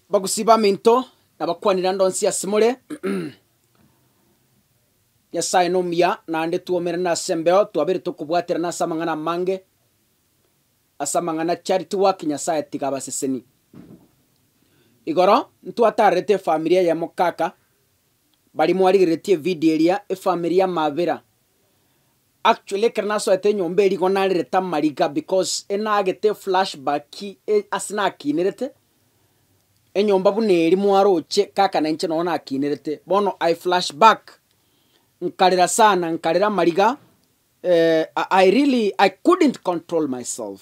Abagusii baminto, nabakwanire ande onsi asemore. Nyasaye nomuya, naende twoumerane ase embeo, twaberete okobwaterana ase amang'ana amange, ase amang'ana charity work, Nyasaye tiga abaseseni. Igoro, ntwatarerete efamiri eye mokaka, baria mwarigereretie evidio eria, efamiri ya Mabira, Actually ekero nasoete enyomba eria igo narerete amariga because enagete flash back ase nakinerete enyomba buna eria mwaroche kaka nainche nonye nakinerete bono I flash back nkarera sana nkarera amariga I really I couldn't control myself.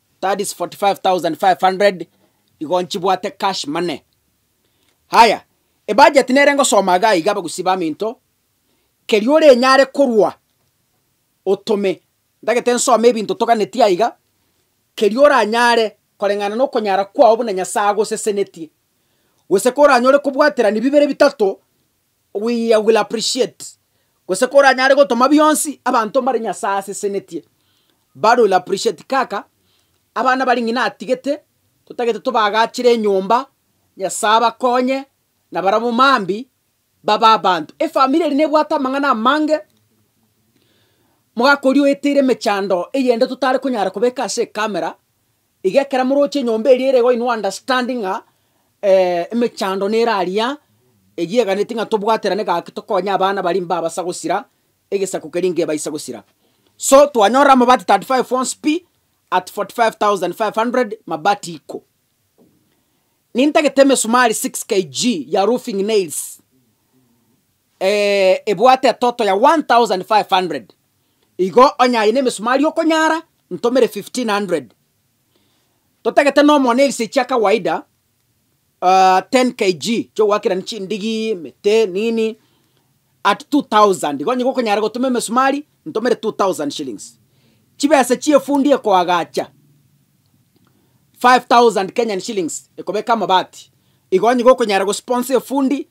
Tadis 45,500 igo nchibwate cash money. Haya, ebudget nere ngosoma iga iga abagusii baminto, keria orenyare korwa otome, ntagete nsome ebinto toganetie aiga, keria oranyare koreng'ana na okonyara kwao buna Nyasae agosesenetie, gose koranyore kobwaterani bibere bitato We will appreciate gose koranyare gotoma bionsi abanto mbare Nyasae asesenetie bare will appreciate kaka abana baria ng'ina atigete totagete tobagachire enyomba Nyasae abakonye na barabwo mambi babe abanto. Efamiri eri nebwate amang'ana amange mogaka oria oeteire emechando eyende totare konyara kobeka ase ecamera Iga ekero moroche enyomba eria ere goino understand ng'a emechando nere aria eyio eganeti ng'a tobwaterane gaki tokonye abana baria mbabasa gosira egesaku keria ngebaise gosira. So twanyorire amabati thirty five once pi at forty five thousand five hundred mabati iko. Nintagete emesumari six KG ya roofing nails. ebwate etoto ya 1,500, igo onye aye nemesumari okonyara ntomere 1,500. Totagete nomonwe na ebise chia kawaida 10 kg chiogoakerania chindigi, emete, nini, at 2,000, igo onye gokonyara gotuma emesumari ntomere 2,000 shillings. Chibesa chie efundi ekoagacha 5,000 Kenyan shillings ekobeka amabati, igo onye gokonyara gosponsor efundi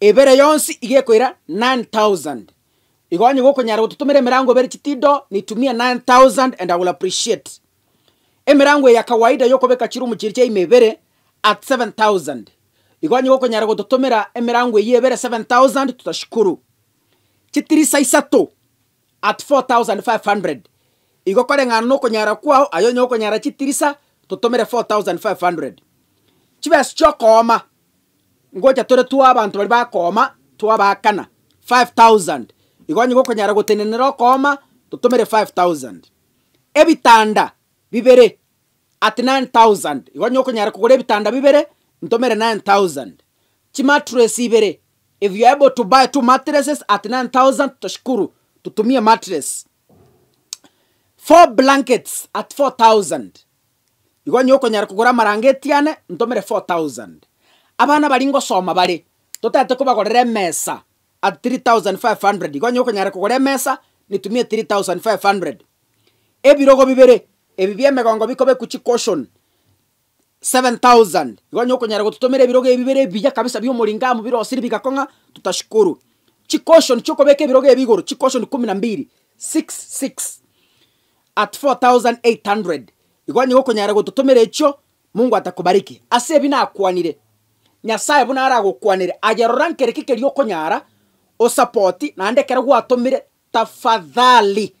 Ebere yonsi iga ekoira 9,000. Igo onye gokonyara gototomera emerango ebere chitido nitumia 9,000 and I will appreciate. Emerango eye ya kawaida yokobeka chirumu chiria chia ime ebere at 7,000. Igo onye gokonyara gototomera emerango eyio ebere 7,000 tutashikuru. Chitirisa isato. at 4500 igo koreng'ana nokonyara kwao, aye onye okonyara chitirisa totomere 4500 chibesa chiokooma ngocha tore twa abanto baria bakooma twabaakana 5000 igo onye gokonyara gotenenera okooma totomere 5000 ebitanda bibere at 9000 igo onye okonyara kogora ebitanda bibere ntomere 9000 chimatress ibere If you're able to buy two mattresses at 9,000 toshukuru tutumie mattress. Four blankets at 4,000 igo onye okonyara kogora amarangeti ane ntomere 4,000. Abana baria ngosoma bare totaete kobagorera emesa at 3,500 igo onye okonyara kogora emesa nitumie 3,500. Ebirogo bibere ebi bi'emegongo bikobekwa chicushion 7,000. Igo onye okonyara gototomera ebirogo ebi bire ebiya kabisa bi'omoringo amo birosirie bigakong'a, totashukuru. Chicushion chi'okobeka ebirogo ebi igoro, chicushion kumi na mbiri, six, six, at 4,800. Igo onye gokonyara gototomera echio, Mungu atakubariki. Ase ebi nakwanire, Nyasae buna aragokwanere, aye rora nkereki keria okonyara, osapoti, naende ekero gwatomire, tafadhali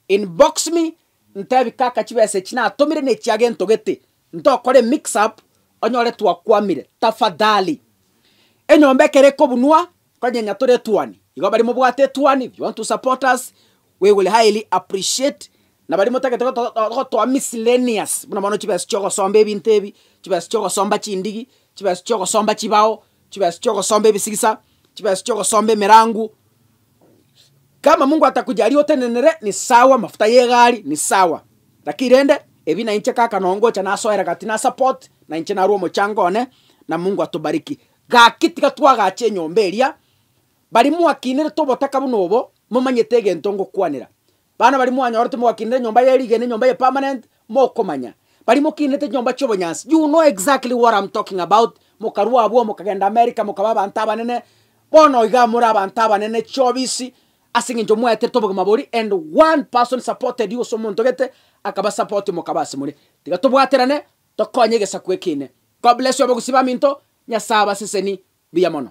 Inbox me ntebi kaka chibesa echi natomire nechiage ntogete ntokore mix up onyore twakwamire tafadhali. Enyomba ekero ekobunwa konyenya tore etuani igo bari mobwate etuani if you want to support us we will highly appreciate na bari motagete gotoa miscellaneous buna bono chibesa chiogosomba ebinto ebi chibesa chiogosomba chindigi chibesa chiogosomba chibao chibesa chiogosomba ebisigisa chibesa chiogosomba emerangu Kama mungu atakuja aria otenenere ni sawa mafuta yegari ni sawa lakini rende ebi na inche kaka nongocha nasoera gati na support na inche narue omochango one na mungu atubariki gaki tiga twagache enyomba eria bari mwakinirete obotaka buna obo momanyete egento ngokwanera Bana baria mwanyorete mogakinera enyomba ye rigena, enyomba eye permanent, mokomanya baria mokinete chinyomba chi'obonyansi, you know exactly what am talking about, mokarua abwo mokagenda America mokaba abanto abanene, bono oiga more abanto abanene chiobisi ase eng'encho mwaeterete obogima boria and one person supported you, gose omonto gete akaba support you mokaba ase more. Tiga tobwaterane tokonye egesaku eke ime. God bless you abagusii baminto, Nyasae abaseseni buya mono.